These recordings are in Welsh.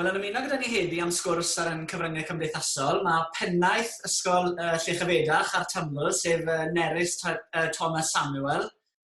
Wel, yn ymuno gyda ni heddi am sgwrs ar ein cyfryngau cymdeithasol, mae pennaeth Ysgol uh, Llechafedach a'r Taml, sef uh, Nerys uh, Thomas Samuel.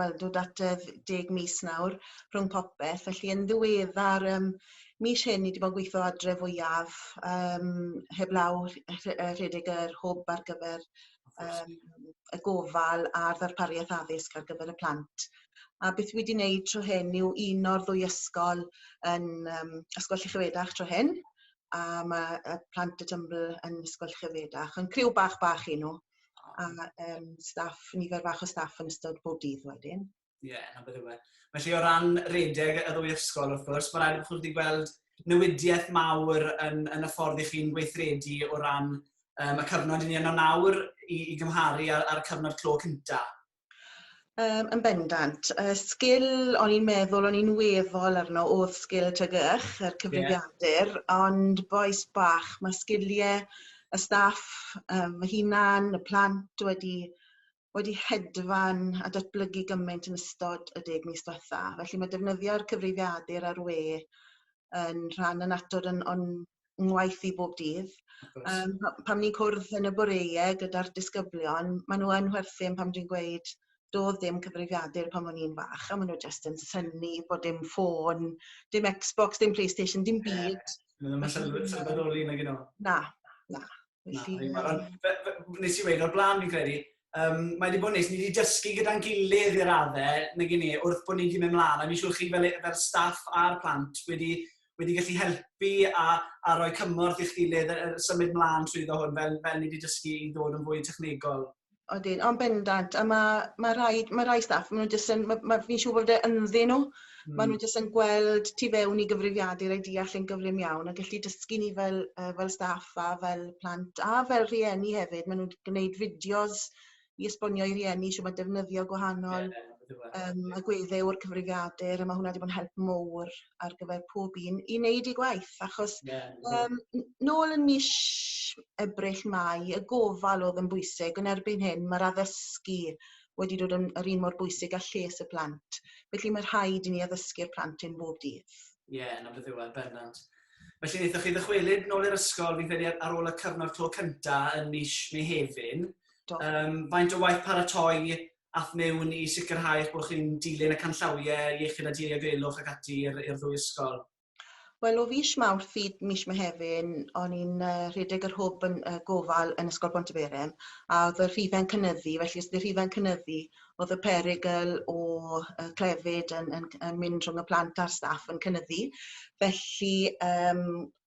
wel dod at y deg mis nawr rhwng popeth felly yn ddiweddar yym mis hyn ni 'di bod yn gweitho adre fwyaf yym heblaw rh- rh- yy rhedeg yr hwb ar gyfer yym y gofal a'r ddarpariaeth addysg ar gyfer y plant. A beth wi 'di neud tro hyn yw uno'r ddwy ysgol yn yym Ysgol Llychyfedach tro hyn a ma' y plant y Tymbl yn Ysgol Llychyfedach. Yn criw bach bach 'yn nw. A ma' yym staff, nifer fach o staff yn ystod bob dydd wedyn. Ie, 'na beth yw e. Felly o ran redeg y ddwy ysgol wrth gwrs, mae'n rhaid i chi wedi gweld newidiaeth mawr yn yn y ffordd 'y chi'n gweithredu o ran yym y cyfnod 'yn ni yno nawr i i gymharu â'r â'r cyfnod clo cynta'. Yym yn bendant. Y sgil o'n i'n meddwl o'n i'n weddol arno odd sgil teg ych yr cyfrifiadur ond bois bach ma' sgilie y staff yym fy hunan y plant wedi wedi hedfan a datblygu gyment yn ystod y deg mis dwetha felly ma' defnyddio'r cyfrifiadur ar we yn rhan annatod yn o'n ngwaith i bob dydd. Yym pa- pan ni'n cwrdd yn y boreue gyda'r disgyblion ma' n'w yn chwerthin pan dwi'n gweud do'dd ddim cyfrifiadur pan o'n i'n fach a ma' n'w jyst yn synnu bo' dim ffôn dim Xbox dim Playstation dim byd. Na. Na. Na. Felly, na, na. Fe, fe, nes i wedi o'r blaen fi'n credu, um, mae wedi bod yn nes, ni wedi dysgu gyda'n gilydd i'r raddau, nag i ni, wrth bod ni'n mynd mlaen, a mi'n siŵr chi fel, e, fel staff a'r plant wedi, wedi gallu helpu a, a rhoi cymorth i'ch gilydd, a, a symud mlaen trwy ddo hwn, fel, fel ni wedi dysgu i ddod yn fwy technegol. Odyn yn bendant a ma' ma' rhaid ma' rai staff ma' n'w jyst yn ma' ma' fi'n siŵr bod e ynddyn n'w ma' n'w jyst yn gweld tu fewn i gyfrifiadur a deall e'n gyflym iawn a gellu dysgu ni fel yy fel staff a fel plant a fel rhieni hefyd ma' n'w 'di gneud fideos i esbonio i rieni shwd ma' defnyddio gwahanol yym agwedde o'r cyfrifiadur a ma' hwnna 'di bod yn help mowr. ar gyfer pob un i neud eu gwaith achos... Ie ie. ...yym n- nôl yn mish Ebrill Mai y gofal o'dd yn bwysig yn erbyn hyn ma'r addysgu wedi dod yn yr un mor bwysig â lles y plant felly ma' rhaid i ni addysgu'r plant hyn bob dydd. Ie yn y diwedd bendant. Felly naethoch chi ddychwelyd nôl i'r ysgol fi'n credu ar ôl y cyfnod clo cynta' yn mish Mehefin. Do. Yym faint o waith paratoi at mewn i sicrhau eich bod chi'n dilyn y canllawiau iechyd a diogelwch ac ati i'r i'r ddwy ysgol? Wel o fis Mawrth i mis Mehefin o'n i'n yy rhedeg yr hwb yn yy gofal yn Ysgol Bontyberem a o'dd y rhife'n cynyddu felly os 'di rhife'n cynyddu o'dd y perygl o yy clefyd yn yn c- yn mynd rhwng y plant a'r staff yn cynyddu felly yym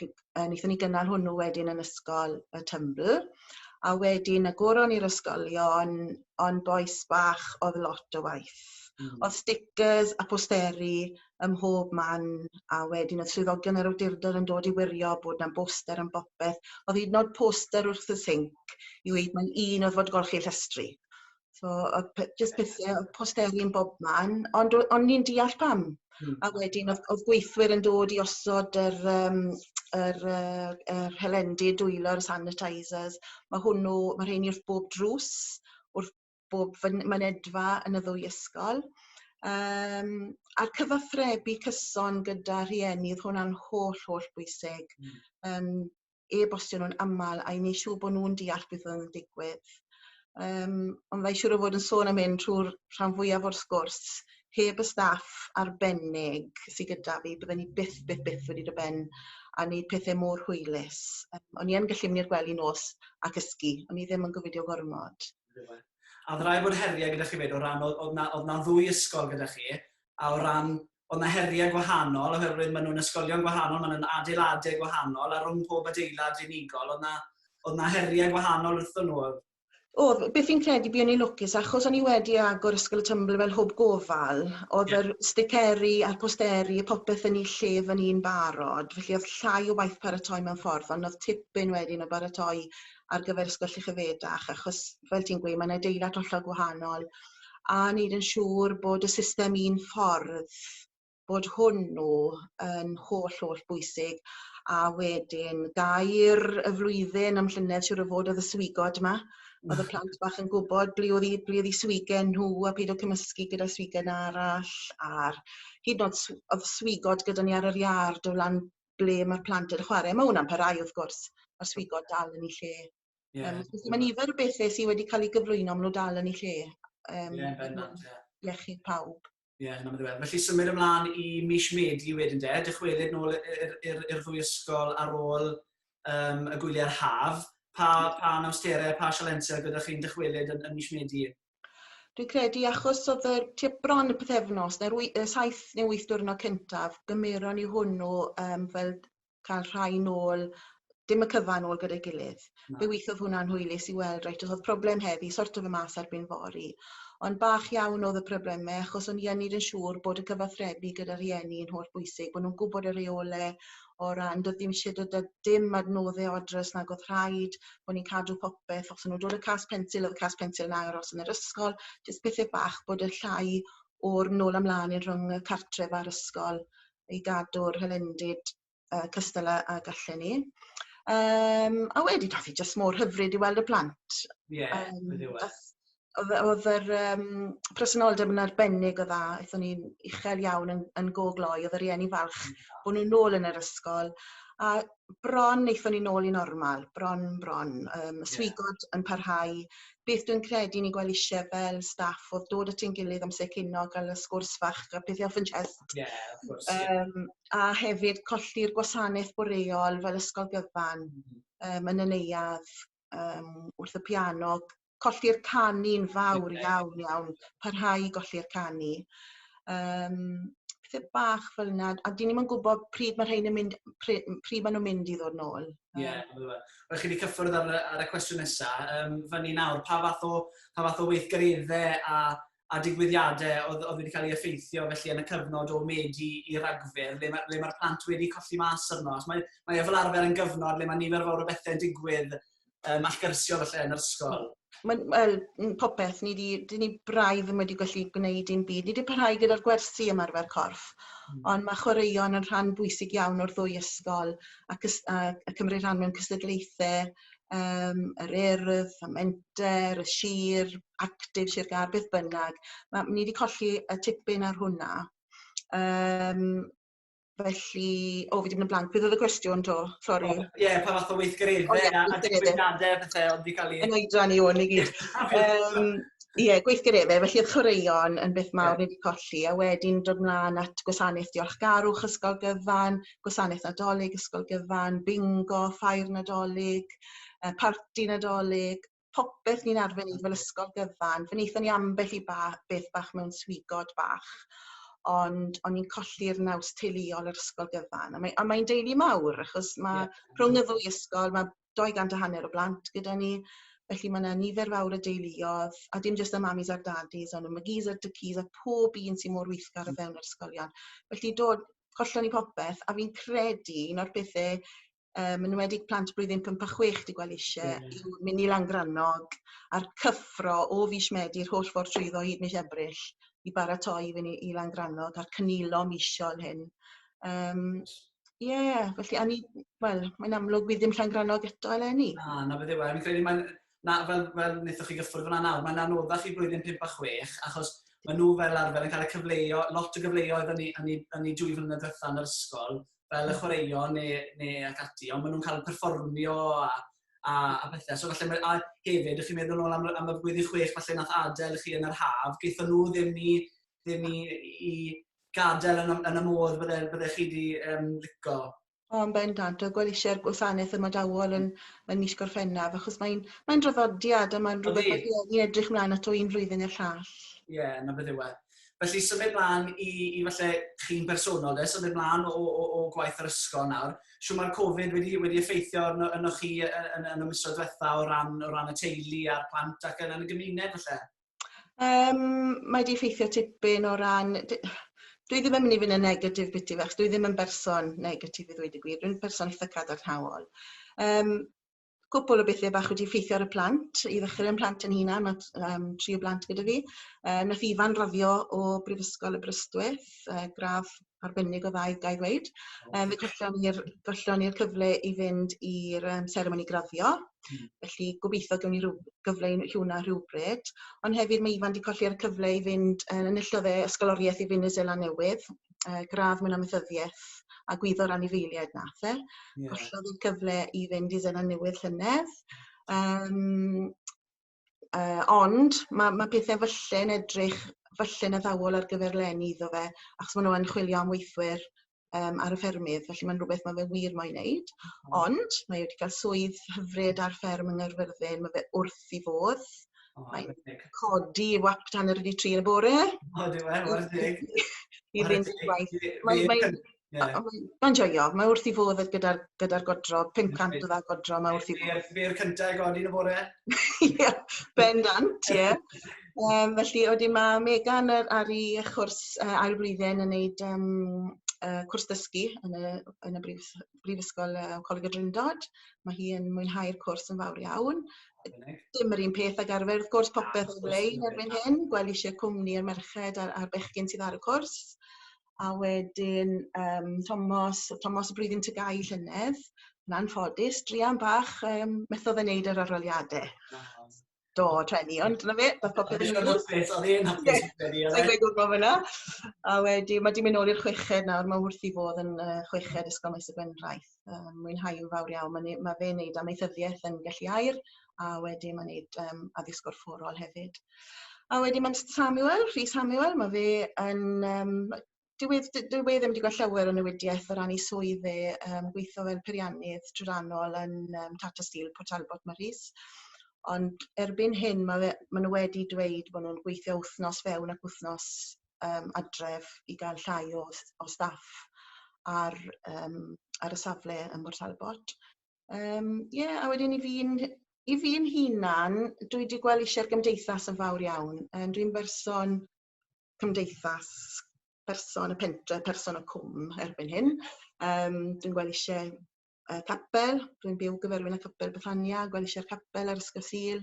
gy- yy nethon ni gynnal hwnnw wedyn yn ysgol y Tymbl a wedyn y goron i'r ysgolion ond bois bach odd lot o waith. Hmm. Odd stickers a posteri ym mhob man a wedyn odd swyddogion yr awdurdod yn dod i wirio bod 'na boster am bopeth. Odd 'yd yn o'd poster wrth y sinc i weud mae'n un o fod golchi llestri. So odd pe- jyst pethe odd posteri yn bobman ond o- o'n i'n deall pam. Hmm. A wedyn odd odd gweithwyr yn dod i osod yr yym yr yy yr helendi dwylo a'r sanitisers ma' hwnnw ma' rheini wrth bob drws wrth bob fyn- mynedfa yn y ddwy ysgol. Yym a'r cyfathrebu cyson gyda rhieni odd hwnna'n holl holl bwysig. Hmm. Yym. e-bostio nhw'n aml a i neu' siŵr bo' nhw'n deall beth oedd yn digwydd. Yym ond mae siŵr o fod yn sôn am hyn trw'r rhan fwyaf o'r sgwrs heb y staff arbennig sy gyda fi bydden ni byth byth byth wedi do' ben a neud pethe mor hwylus. Yym o'n i yn gallu myn' i'r gwely nos a cysgu. O'n i ddim yn gofidio gormod. A o'dd rai' bod herie gyda chi 'fyd o ran o- o'dd 'na o'dd 'na ddwy ysgol gyda chi a o ran Oedd 'na heriau gwahanol oherwydd maen nhw'n ysgolion gwahanol, maen nhw'n adeiladau gwahanol a rhwng pob adeilad unigol oedd 'na oedd 'na heriau gwahanol wrthon nhw. Oedd. Oedd, beth fi'n credu buon ni'n lwcus achos o'n ni wedi agor Ysgol y Tymbl fel hwb gofal, oedd yr sticeri a'r posteri a popeth yn ei lle fan 'yn barod, felly oedd llai o waith paratoi mewn ffordd ond oedd tipyn wedyn o baratoi ar gyfer Ysgol Llychyfedach achos fel ti'n gweud mae'n adeilad hollol gwahanol a neud yn siŵr bod y system un ffordd bod hwnnw yn holl holl bwysig a wedyn gair y flwyddyn am llynedd siwr o fod oedd y swigod yma oedd y plant bach yn gwybod ble oedd 'u ble oedd 'u swigen nhw a peidio o cymysgu gyda swigen arall a'r hyd yn o'd sw- o'dd swigod gyda ni ar yr iard o lan ble ma'r plant yn chware ma' wnna'n parhau wrth gwrs ma'r swigod dal yn 'u lle. Yeah. Um, felly mae nifer o bethau sydd wedi cael ei gyflwyno am nhw dal yn ei lle. Um, yeah, bendant, yeah. Iechyd pawb. Ie, yeah, hynny'n ddiwedd. Felly symud ymlaen i mis Medi wedyn de, dychwelyd nôl i'r ddwy ysgol ar ôl um, y gwyliau'r haf. Pa, pa nawsterau, pa sialensau gyda chi'n dychwelyd yn, yn mis Medi? Dwi'n credu achos oedd y tua bron y pethefnos, neu'r 7 neu 8 diwrnod cyntaf, gymeron ni hwnnw um, fel ca'l rhai nôl dim y cyfan ôl gyda'i gilydd. Na. Fe withodd hwnna'n hwylus i weld reit o'dd problem heddi sorto fe mas erbyn fory. Ond bach iawn o'dd y probleme achos o'n i yn neud yn siŵr bod y cyfathrebu gyda rhieni yn holl bwysig bo' nw'n gwbod y reole o ran do'dd dim isie dod â dim adnodde o adre os nag o'dd rhaid bo' ni'n cadw popeth os o'n nw'n dod â cas pensil o'dd y cas pensil yn aros yn yr ysgol jyst pethe bach bod y llai o'r nôl a mlan yn rhwng y cartref a'r ysgol i gadw'r hylendid yy cystal a ag allan ni. Yym a wedyn o'dd 'i jyst mor hyfryd i weld y plant. Ie. Yym beth yw e? Ath o'dd yy o'dd yr yym presenoldeb yn arbennig o dda aethon ni'n uchel iawn yn yn go gloi odd y rieni falch bo' n'w nôl yn yr ysgol a bron nethon ni nôl i normal bron bron yym y swigod yn parhau beth dwi'n credu ni'n gwel' isie fel staff odd dod at ein gilydd amser cino ga'l y sgwrs fach a pethe off ein chest. Ie wrth gwrs ie. Yym a hefyd colli'r gwasaneth boreol fel ysgol gyfan. Hmm. Yym yn y neuadd. yym wrth y piano colli'r canu'n fawr iawn iawn parhau i golli'r canu yym pethe bach fel 'na a 'dyn ni'm yn gwbod pryd ma' rhein yn mynd pry- m- pryd ma' nw'n mynd i ddod nôl. Ie on'd yfe? Wel chi 'di cyffwrdd ar y ar y cwestiwn nesa yym fyny nawr pa fath o pa fath o weithgaredde a a digwyddiadau oedd, oedd wedi cael ei effeithio felly yn y cyfnod o Medi i Ragfyr, le mae'r mae, ma plant wedi colli mas arno. Mae, mae e fel arfer yn gyfnod le mae nifer fawr o bethau'n digwydd um, allgyrsiol felly yn yr ysgol. Mae'n well, popeth, ni di, di ni braidd ddim wedi gallu gwneud dim byd. Ni wedi parhau gyda'r gwersi ymarfer corff, mm. ond mae chwaraeon yn rhan bwysig iawn o'r ddwy ysgol ac y cymryd rhan mewn cystadlaethau yym yr Urdd y Menter y Sir Arctic Sir Gâr beth bynnag ma' ni 'di colli y tipyn ar hwnna yym felly o fi 'di myn' yn blank beth odd y cwestiwn 'to? Sori. O ie pa fath o weithgaredde a a digwyddiade a pethe odd 'di ca'l 'u... Yn oedran i wn i gyd. Yym ie gweithgaredde felly o'dd chwaraeon yn beth mawr ni 'di colli a wedyn dod mlan at gwasanaeth diolchgarwch ysgol gyfan gwasanaeth Nadolig, ysgol gyfan, bingo, ffair Nadolig yy parti Nadolig, popeth ni'n arfer neud fel ysgol gyfan. Fe nethon ni ambell i ba- beth bach mewn swigod bach ond o'n i'n colli'r naws teuluol yr ysgol gyfan a mae a mae'n deulu mawr achos ma'... Ie. ...rhwng y ddwy ysgol ma' dou gant a hanner o blant gyda ni felly ma' 'na nifer fawr o deuluodd a dim jyst y mamis a'r dadis on' y magis a'r dycis a pob un sy mor weithgar o fewn yr ysgolion. Felly do hollol i popeth a fi'n credu un o'r pethe yym yn enwedig plant blwyddyn pump a chwech dwi gwel' isie yw myn' i Langrannog a'r cyffro o fis Medi yr holl ffordd trwyddo hyd mis Ebrill i baratoi i fyn' i i Langrannog a'r cynilo misio yn hyn. Yym. Ie felly a ni wel mae'n amlwg bydd dim Llangrannog eto eleni. Na, 'na beth yw e. Fi'n credu mae'n... Na, fel fel wnaethoch chi gyffwrdd fan'na nawr, mae'n anoddach i blwyddyn 5 a 6 achos maen nhw fel arfer yn cael y cyfleu-... lot o gyfleoedd yn eu yn eu dwy flynedd diwetha' yn yr ysgol fel y chwaraeon neu neu ac ati ond maen nhw'n cael perfformio a a a pethe. So falle mae... A hefyd, dych chi'n meddwl nôl am am y blwyddyn chwech falle nath adael chi yn yr haf, gaethon nhw ddim i ddim i i gadael yn y, yn y modd bydde, bydde chi wedi um, lico? O, yn bendant, a gweld eisiau'r gwasanaeth ymadawol yn, yn mis Gorffennaf, achos mae'n mae draddodiad a mae'n rhywbeth mae rhieni edrych mlaen ato un flwyddyn i'r llall. Ie, yeah, na beth yw e. Felly symud mlaen i, i falle chi'n bersonol de, symud mlaen o, o, o gwaith yr ysgol nawr. Siw mae'r Covid wedi, wedi effeithio arno, arno chi yn, yn, yn y misoedd diwetha o ran, o ran y teulu a'r plant ac yn, yn y gymuned falle? Yym mae 'di effeithio tipyn o ran dy- dwi ddim yn myn' i fyn' yn negatif biti fe achos dwi ddim yn berson negatif i ddweud y gwir dwi'n person itha cadarnhaol. Yym cwpwl o bethe bach wedi effeithio ar y plant i ddechre 'yn mhlant 'yn hunan ma' t- yym tri o blant gyda fi yy nath Ifan raddio o Brifysgol Aberystwyth yy gradd arbennig o dda i gai ddweud. Yym fe gollion ni'r gollion ni'r cyfle i fynd i'r yym seremoni graddio. Hmm. Felly gobeithio gewn ni ryw gyfle i neu' hwnna rhywbryd. Ond hefyd mae Ifan 'di colli ar y cyfle i fynd yy enillodd e ysgoloriaeth i fyn' i Seland Newydd yy gradd mewn amaethyddieth a gwyddo'r anifeiliaid nath e. Ie. Gollodd 'i cyfle i fynd i Seland Newydd llynedd. Yym. Yy ond ma' ma' pethe fylle'n edrych fylle'n addawol ar gyfer leni iddo fe achos ma' n'w yn chwilio am weithwyr yym ar y ffermydd felly ma'n rwbeth ma' fe wir moyn neud ond mae e 'di ga'l swydd hyfryd ar fferm yng Nghaerfyrddin ma' fe wrth 'i fodd. O reit. Mae'n reit. codi ei wap tan yr wedi tri yn y bore. O ydi wir? Chware teg. I fynd i'r gwaith. Mae mae Ie. A mae'n mae'n joio. Mae wrth 'i fodd yy gyda'r gyda'r godro. 500 o dda godro mae wrth 'i fodd. Be'r be'r cynta i godi yn y bore. Ie bendant ie. Yym felly a wedyn ma' Megan yy ar 'i yy chwrs yy ail flwyddyn yn neud yym yy cwrs dysgu yn y yn y brifys- brifysgol yy Coleg y Drindod. Ma' hi yn mwynhau'r cwrs yn fawr iawn. Dim yr un peth ag arfer wrth gwrs popeth ar lein erbyn hyn gwell isie cwmni y merched a'r a'r bechgyn sydd ar y cwrs. a wedyn yym Tomos Tomos y Blwyddyn Tygau llynedd yn anffodus druan bach yym methodd e neud yr aroliade. Na. Do treni ond 'na fe ma' popeth yn mynd reit. O'dd e'n hapus credu o'dd e? Sai'n gwbo fyn 'na. A wedi ma' 'di myn' nôl i'r chweched nawr ma' wrth 'i fodd yn yy chweched Ysgol Maes y Gwendraeth. yy mwynhau yn fawr iawn ma'n ne- ma' fe'n neud amaethyddieth yn Gelli Aur a wedyn ma'n neud yym addysg gorfforol hefyd. A wedyn ma'n St Samuel Rhys Samuel ma' fe yn yym ma- dyw e d- dyw e ddim 'di gwel llawer o newidieth o ran 'i swydd e yym gweitho fel peiriannydd trydanol yn yym Tata Steel Port Talbot ma' Rhys. Ond erbyn hyn ma' fe ma' n'w wedi dweud bo' nw'n gweithio wthnos fewn ac wthnos yym adref i ga'l llai o s- o staff ar yym ar y safle ym Mhort Talbot. Yym ie a wedyn i fi'n hu- i fi'n hunan dwi 'di gwel' isie i'r gymdeithas yn fawr iawn yym dwi'n berson cymdeithas person y pentre person y cwm erbyn hyn yym dwi'n gwel' isie y capel, rwy'n byw gyferwyl y capel Bethania, gwelishie'r capel ar Ysgol Sul,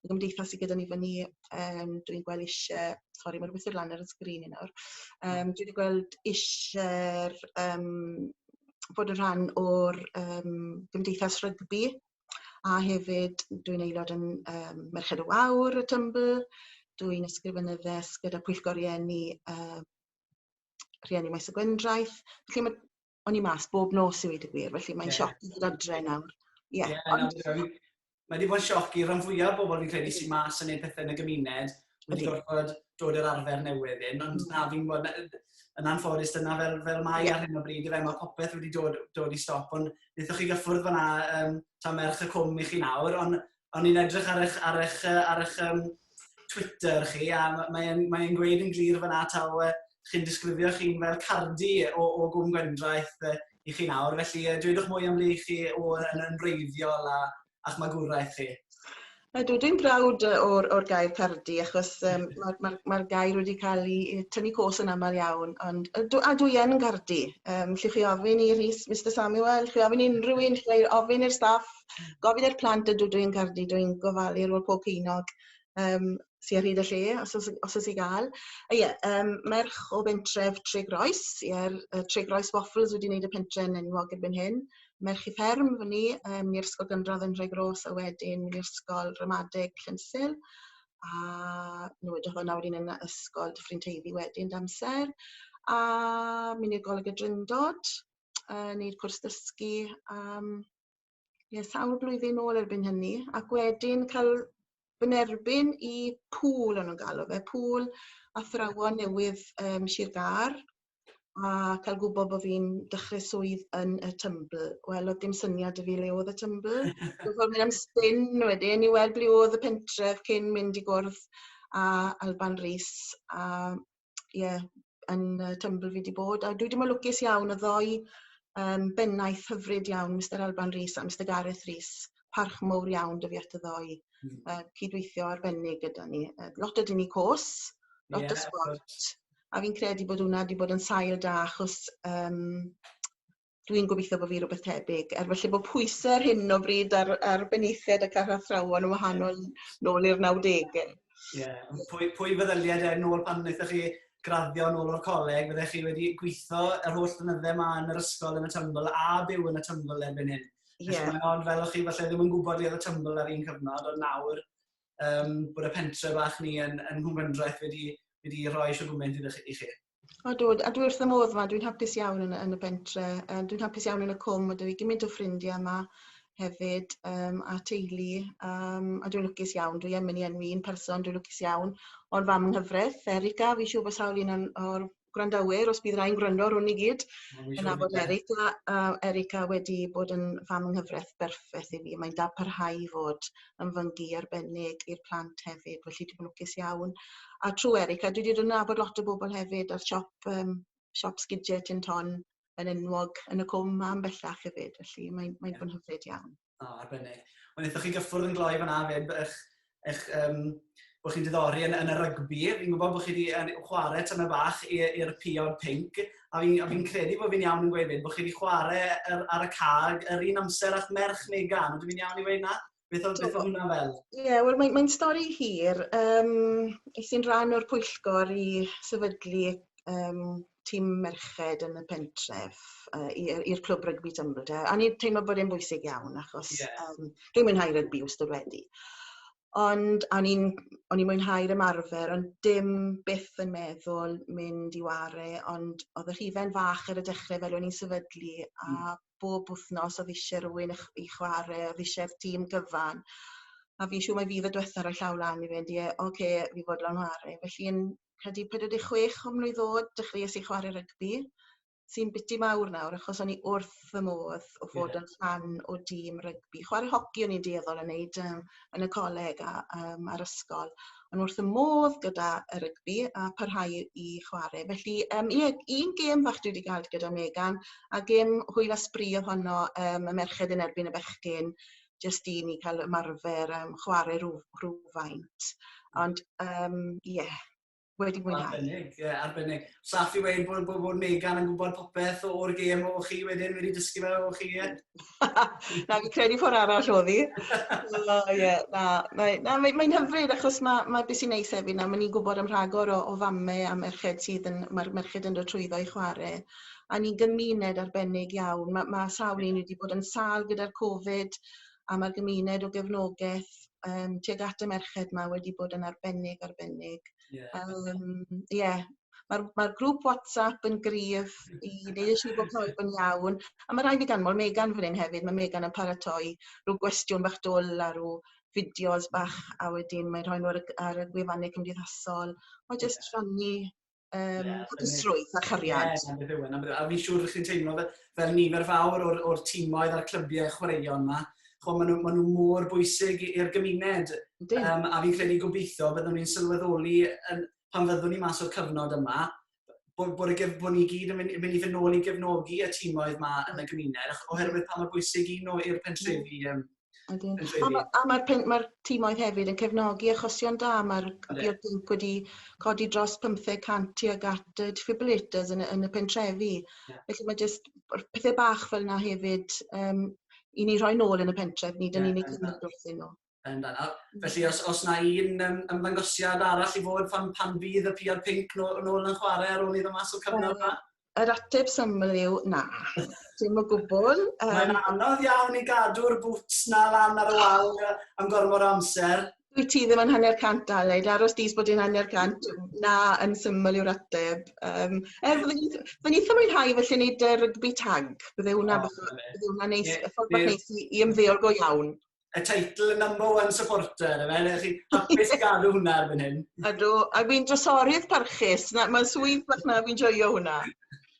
y gymdeithas sy gyda ni fyn ni yym dwi'n gwel isie sori ma'r withyd lan ar y sgrin i nawr yym dwi 'di gweld isie'r yym bod yn rhan o'r yym gymdeithas rygbi a hefyd dwi'n aelod yn yym Merched y Wawr y Tymbl dwi'n ysgrifenyddes gyda pwyllgor rieni yy rhieni Maes y Gwendraeth felly ma' o'n i mas bob nos i weud y gwir, felly mae'n yeah. sioc i fod adre nawr. Ie. Yeah, yeah, ond... no, mae wedi bod yn sioc i ran fwyaf o bobl fi'n credu sy'n mas yn ei pethau yn y gymuned. Mae wedi gorfod dod i'r arfer newydd hyn, ond mm. na, fi'n bod yn anffodus dyna fel, fel mae yeah. ar hyn o bryd, fe mae popeth wedi dod, dod i stop, ond wnaethoch chi gyffwrdd fyna um, ta merch y cwm i chi nawr, ond o'n i'n edrych ar eich, ar eich, ar eich um, Twitter chi, a mae'n mae e'n gweud yn glir fyna taw uh, chi'n disgrifio chi'n fel cardi o, o gwm gwendraeth uh, i chi nawr, felly uh, dwedwch mwy am le chi o, yn, yn reiddiol a, a'ch magwraeth chi. Ydw, dwi'n brawd o'r, or gair cardi, achos um, mae'r ma, ma gair wedi cael ei tynnu cos yn aml iawn, ond ydw, a dwi yn gardi. Um, lle chi ofyn i Rhys, Mr Samuel, chi ofyn i unrhyw un, chi ofyn i'r staff, Gofyn i'r plant ydw dwi yn credu dwi'n gofalu ar ôl pob pinoc yym sy ar hyd y lle os o's os o's i ga'l. A ie yym merch o bentref Tregroes ie'r yy Tregroes Waffles wedi neud y pentre'n enwog erbyn hyn. Merch y fferm fyn ni yym ni ysgol gynradd yn Nhregroes a wedyn mynd i ysgol ramadeg Llansil a nw edrych fel 'na wedyn yn y ysgol Dyffryn Teifi wedyn d'amser a myn' i'r Goleg y Drindod yy neud cwrs dysgu am Ie, sawl blwyddyn ôl erbyn hynny, ac wedyn cael fy nerbyn i pŵl o'n nhw'n galw fe, pŵl athrawon newydd um, Sir Gar, a cael gwybod bod fi'n dechrau swydd yn y Tymbl. Wel, oedd dim syniad y fi le oedd y Tymbl. Dwi'n ffordd mynd am spin wedyn i weld ble oedd y pentref cyn mynd i gwrdd a Alban Rhys. A ie yn yy Temple fi 'di bod a dwi 'di myn' lwcus iawn y ddou yym bennaeth hyfryd iawn Mistar Alban Rees a Mister Gareth Rees. Parch mowr iawn 'da fi at y ddou. Hmm. Yy cydweithio arbennig gyda ni. Yy lot o dyn ni côs. Lot yeah, o sbort. A fi'n credu bod hwnna 'di bod yn sail da achos yym dwi'n gobeithio bo' fi rwbeth tebyg er felly bo' pwyse ar hyn o bryd ar ar benaethiaid ac ar athrawon yn wahanol nôl i'r nawdege. Ie. Ond pwy pwy feddylia de nôl pan naethoch chi graddio nôl o'r coleg fyddech chi wedi gwitho yr holl flynydde 'ma yn yr ysgol yn y Tymbl a byw yn y Tymbl erbyn hyn. Ie. Felly mae o'n fel o'ch chi falle ddim yn gwbod le o'dd y Tymbl ar un cyfnod ond nawr yym bod y pentre bach ni yn yn Nghwmgyndraeth wedi wedi rhoi shwd gwment iddo chi i chi. O dw a dwi wrth fy modd yma dwi'n hapus iawn yn y yn y bentre yym dwi'n hapus iawn yn y cwm ma' 'da fi gymint o ffrindia yma hefyd yym a teulu yym a dwi'n lwcus iawn dwi yn myn' i enwi un person dwi lwcus iawn o'r fam yng nghyfreth Erica fi'n siŵr bo' sawl un o'n o'r gwrandawyr os bydd rai'n gwrando rwn i gyd yn nabod Erica a Erica wedi bod yn fam yng nghyfreth berffeth i fi mae'n da parhau i fod yn fyngi arbennig i'r plant hefyd felly dwi lwcus iawn. A trw Erica a dwi 'di dod nabod lot o bobol hefyd a'r siop yym siop sgidie Tin Ton yn enwog yn y cwm ma yn bellach hefyd felly mae'n mae'n yeah. bod yn hyfryd iawn. O, arbennig. Ond wnaethoch chi gyffwrdd yn gloi fanna 'fyd eich eich um, bod chi'n diddori yn, yn y rygbi. Fi'n gwybod bod chi wedi chwarae tyma bach i'r piod pink, a fi'n fi credu bod fi'n iawn yn gweud fyd, bod chi wedi chwarae ar, ar y cag yr un amser a'ch merch Megan. Ydw fi'n iawn i weud na? Beth oedd, beth oedd hwnna fel? Ie, yeah, wel mae'n mae stori hir. Um, es i'n rhan o'r pwyllgor i sefydlu um, tîm merched yn y pentref uh, i'r clwb rygbi Tymru. A ni'n teimlo bod e'n bwysig iawn achos yeah. um, dwi'n mwynhau rygbi wrth wedi. Ond a o'n i'n o'n i'n mwynhau'r ymarfer ond dim byth yn meddwl mynd i 'ware ond odd y rhifen fach ar y dechre fel o'n i'n sefydlu a bob wthnos odd isie rywun i chw- i chware odd isie'r tîm gyfan a fi'n siŵr mai fi odd y dwetha roi llaw lan i fynd ie oce fi fodlon 'ware. Felly yn credu pedwar deg chwech o mlwydd o'd dechreues i chware rygbi. sy'n biti mawr nawr achos o'n i wrth fy modd o fod yn rhan o dîm rygbi. Chware hoci o'n i'n dueddol o neud yym yn y coleg a yym a'r ysgol. O'n wrth fy modd gyda y rygbi a parhau i i chware. Felly yym ie un gêm fach dwi 'di ga'l gyda Megan a gêm hwyl a sbri odd honno yym y merched yn erbyn y bechgyn jyst i ni ca'l ymarfer yym chware rw- rhywfaint. Ond yym ie. wedi mwynhau. Arbennig, ie, arbennig. Saff i wein bod, bod, bod Megan yn gwybod popeth o'r gêm o chi wedyn wedi dysgu fe o chi, ie? na, fi credu ffordd arall o ddi. O, ie, na, mae'n na, mae, mae hyfryd achos mae, mae beth sy'n neis hefyd na, mae ni'n gwybod am rhagor o, o famme a merched sydd yn, mae'r merched yn dod trwyddo i chwarae. A ni'n gymuned arbennig iawn. Mae, mae sawl un wedi bod yn sal gyda'r Covid, a ma'r gymuned o gefnogaeth yym tuag at y merched 'ma wedi bod yn arbennig arbennig. Ie. A yym ie ma'r ma'r grŵp WhatsApp yn gryf i neu' yn siŵr bo' pawb yn iawn. A ma' rai' fi ganmol Megan fan 'yn hefyd ma' Megan yn paratoi rw gwestiwn bach dwl a rw fideos bach a wedyn mae'n rhoi n'w ar y gy- ar y gwefanne cymdeithasol. O jyst rhannu um, yeah, hapusrwydd a chariad. Ie, yeah, beth yw hwnna. E, a fi'n siŵr chi'n teimlo fel, fel nifer fawr o'r, or tîmoedd a'r clybiau chwaraeon yma. Chwa, maen nhw, ma nhw mor bwysig i'r gymuned. Um, a fi'n credu gobeithio byddwn ni'n sylweddoli yn, pan fyddwn ni mas o'r cyfnod yma, bod, bod, y, bod ni gyd yn mynd, mynd i fynd nôl i gefnogi y tîmoedd yma yn y gymuned, oherwydd pa mor bwysig un nhw i'r pentrefi um, Ydyn. Yn llefydd... A ma' a ma'r pum- ma'r timoedd hefyd yn cefnogi achosion da ma'r... Ynde. ...diod pump wedi codi dros pymtheg cant tuag at y defibrillators yn y yn y pentrefi. Ie. Felly ma' jyst yr pethe bach fel 'na hefyd yym i ni rhoi nôl yn y pentref nid yn unig cymorth iddyn nw. Yn da nawr. Felly os os 'na un yym ymddangosiad arall i fod pan pan fydd y piod pinc no- nôl yn chware ar ôl iddo mas o cyfnod 'ma? Yr ateb syml yw na. Dim o gwbl. Um... Mae'n anodd iawn i gadw'r boots na lan ar y wal am gormod o amser. Dwi ti ddim yn hanner cant Aled, aros dis bod yn hanner cant, na yn syml yw'r ateb. Um, er, fydden ni ddim yn hau felly wneud uh, rygbi tag, bydde hwnna oh, bydde hwnna neis, yeah, ffordd bach neis i, i ymddeol go iawn. y teitl y number one supporter, yna, yna chi hapus i gadw hwnna ar fan hyn. Ydw, a fi'n drosorydd parchus, mae'n swydd bach na, fi'n joio hwnna.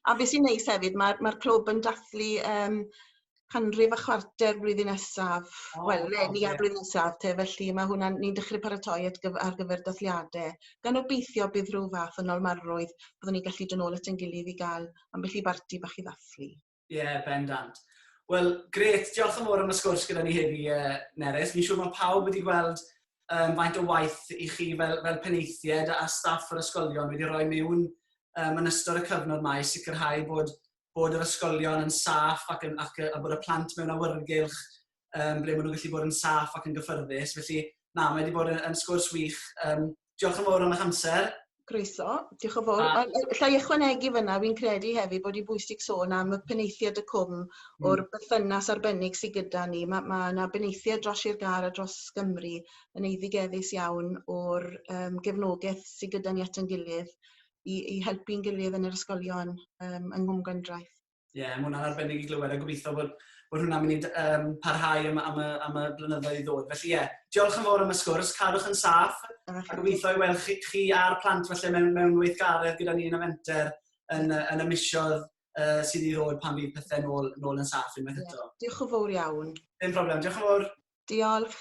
A beth sy'n neis hefyd, mae'r mae clwb yn dathlu um, canrif a chwarter blwyddyn nesaf. Oh, Wel, le ni ar blwyddyn nesaf te, felly mae hwnna, ni'n dechrau paratoi at gyf ar gyfer dathliadau. Gan obeithio bydd rhyw fath yn olmarrwydd, byddwn ni'n gallu dod nôl at ein gilydd i gael ambell i barti bach i ddathlu. Ie, yeah, bendant. Wel, gret, diolch yn fawr am y sgwrs gyda ni heddi, uh, Nerys. Fi'n siŵr mae pawb wedi gweld um, faint o waith i chi fel, fel penaethiaid a staff yr ysgolion wedi rhoi mewn um, yn ystod y cyfnod mae sicrhau bod, bod yr ysgolion yn saff ac, yn, ac a bod y plant mewn awyrgylch um, ble maen nhw'n gallu bod yn saff ac yn gyffyrddus. Felly, na, mae wedi bod yn, yn sgwrs wych. Um, diolch yn fawr am eich amser. Groeso, diolch yn fawr. A... Llai ychwanegu fyna, fi'n credu hefyd bod hi'n bwysig sôn am y peneithiad y cwm mm. o'r bythynas arbennig sydd gyda ni. Mae ma yna beneithiad dros i'r gar a dros Gymru yn eiddigeddus iawn o'r um, gefnogaeth sydd gyda ni at yn gilydd i, i helpu'n gilydd yn yr ysgolion um, yng Nghwm Gwendraeth. Ie, yeah, mae hwnna'n arbennig i glywed a gobeithio bod, bod hwnna'n mynd i um, parhau am, am, y, am y blynyddoedd i ddod. Felly ie, yeah, diolch yn fawr am y sgwrs, cadwch yn saff a gobeithio i weld chi, chi a'r plant felly mewn, mewn weithgaredd gyda ni yn y fenter yn, yn y misiodd uh, sydd i ddod pan fydd pethau nôl, nôl yn saff unwaith eto. Yeah, diolch yn fawr iawn. Dim problem, diolch yn fawr. Diolch.